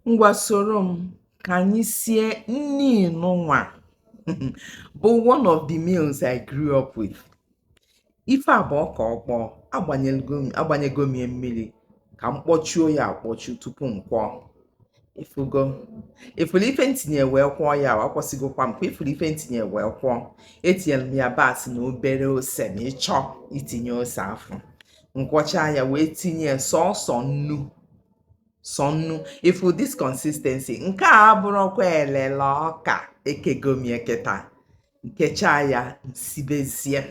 Ngwa soro m ka anyị sie nni nụnwa bụ one of the meals I grew up with. Ife a bụ ọka ọkpọọ, agbanyego m ya mmiri ka m kpọchuo ya akpọchu tupu m kwọọ. Ị fụrụ ife m tinye wee kwọọ ya, akwọsịgokwa m ka ị fụ ife m tinye wee kwọọ. Etinyere m yabasị na obere ose ma ị chọọ itinye ose afụ. M kwọchaa ya wee tinye sọọsọ nnu sọ nnu ị fụ this consistency nke a abụrụkwa elele ọka ekego m ya kịta m kechaa ya m sibezie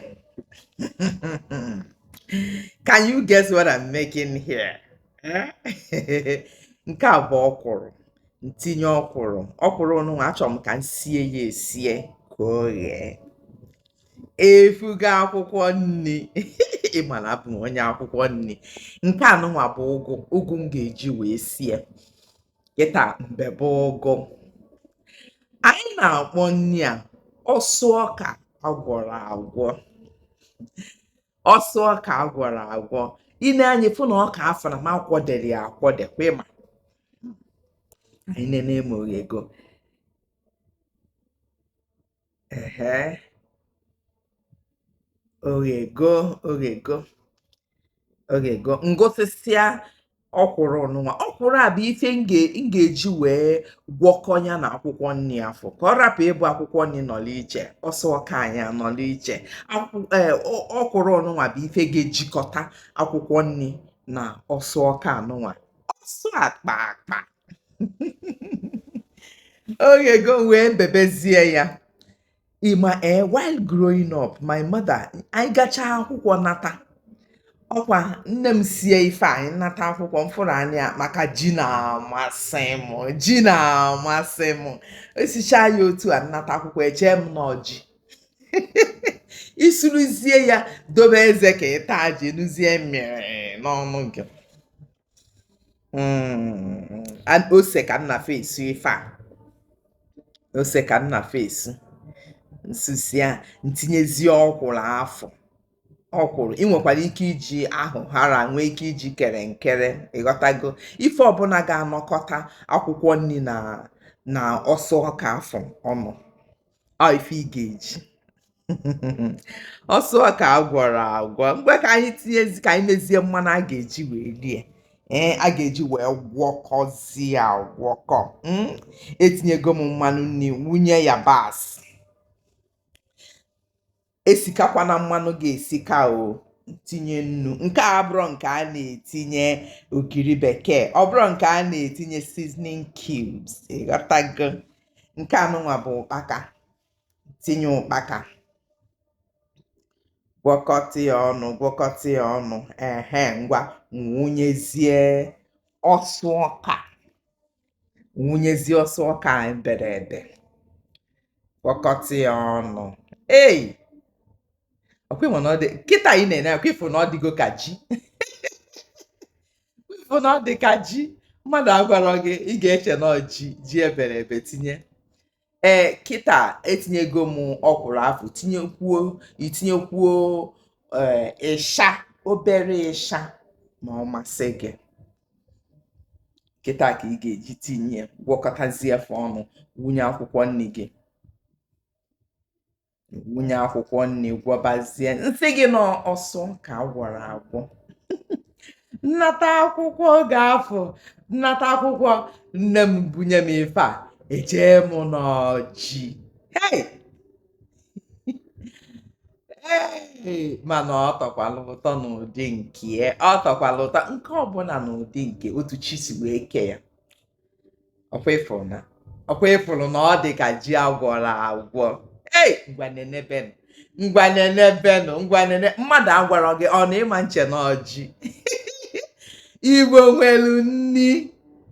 can you guess what I'm making here? nke a bụ ọkwụrụ m tinye ọkwụrụ ọkwụrụ nụnwa achọrọ m ka m sie ya esie ka o ghee ị fụgo akwụkwọ nni ị ma na abụ m onye akwụkwọ nni nke a nụnwa bụ ụgụ ụgụ m ga-eji wee sie kịta m bebe ụgụ anyị na-akpọ nni a ọsụ ọka agwọrọ agwọ ọsụ ọka agwọrọ agwọ i nee anya fụ na ọka afụ na m akwọdere ya akwọde kwa ị ma anyị nene ma o ghego ehe o ghego o ghego o ghego m gụsịsịa ọkwụrụ nụnwa ọkwụrụ a bụ ife m ga-eji wee gwọkọ ya na akwụkwọ nni afụ ka ọ rapụ ịbụ akwụkwọ nni nọlụ iche ọsụ ọka anyị anọlụ iche ọkwụrụ nụnwa bụ ife ga-ejikọta akwụkwọ nni na ọsụ ọka a nụnwa ọsụ akpa akpa o ghego wee bebezie ya ị ma ee while growing up my mother anyị gachaa akwụkwọ nata ọkwa nne m sie ife anyị nata akwụkwọ m fụrụ anya maka ji na-amasị m ji na-amasị m e sichaa ya otu a m nata akwụkwọ echee m na ọ ji isuruzie ya dobe eze ka ị taa ji nuzie mmiri n'ọnụ gị ose ka m na first sụ ife a ose ka m na first sụ m sụsịa m tinyezie ọkwụrụ afụ ọkwụrụ ị nwekwara ike iji ahịhara nwee ike iji kerenkere ị ghọtago ife ọbụla ga-anọkọta akwụkwọ nni na ọsụ ọka afụ ọnụ ọ ife ị ga-eji ọsụ ọka agwọrọ agwọ ngwa ka anyị ka anyị mezie mmanụ a ga-eji wee rie a ga-eji wee gwọkọzie agwọkọ etinyego m mmanụ nni wunye yabasị esikakwana mmanụ gị esika o tinye nnu nke a abụrọ nke a na-etinye ogiri bekee ọ bụrọ nke a na-etinye seasoning cubes ịghọtago nke anụnwa bụ ụkpaka tinye ụkpaka gwọkọta ya ọnụ gwọkọta ya ọnụ ehe ngwa wụnyezie ọsụ ọka wụnyezie ọsụ ọka anyị bere ebe gwọkọta ya ọnụ ei ọkwa ịma na ọ dị kịta ị na-ene ọkwa ịfụ na ọ dịgo ka ji ịfụ na ọ dị ka ji mmadụ agwarọ gị ị ga-eche na ọ ji ji ebere ebe tinye ee kịta etinyego m ọkwụrụ afụ tinyekwuo itinyekwuo ee ịsha obere ịsha ma ọ masị gị kịta ka ị ga-eji tinye gwọkọtazie fa ọnụ wụnye akwụkwọ nni gị wụnye akwụkwọ nni gwọbazie m sị gị na ọsụ ọka a gwọrọ agwọ m nata akwụkwọ oge afụ m nata akwụkwọ nne m bunye m ife a echee m na ọ ji hey! Hey! mana ọ tọkwalụ ụtọ n'ụdị nke ya ọ tọkwalụ ụtọ nke ọbụla n'ụdị nke otu chi si wee kee ya ọkwa ịfụrụ na ọkwa ịfụrụ na ọ dị ka ji agwọrọ agwọ ei ngwa nenebenụ ngwa nenebenụ ngwa nene mmadụ agwarọ gị ọ na ịma nche na ọ ji igbo nwelu nni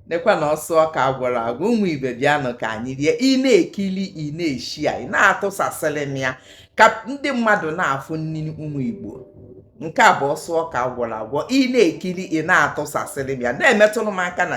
nekwa na ọsụ ọka agwọrọ agwọ ụmụ ibe bịanụ ka anyị rie ị na-ekili ị na-eshare ị na-atụsasịrị m ya ka ndị mmadụ na-afụ nni ụmụ igbo nke a bụ ọsụ ọka agwọrọ agwọ ị na-ekili ị na-atụsasịrị m ya na-emetụrụ m aka na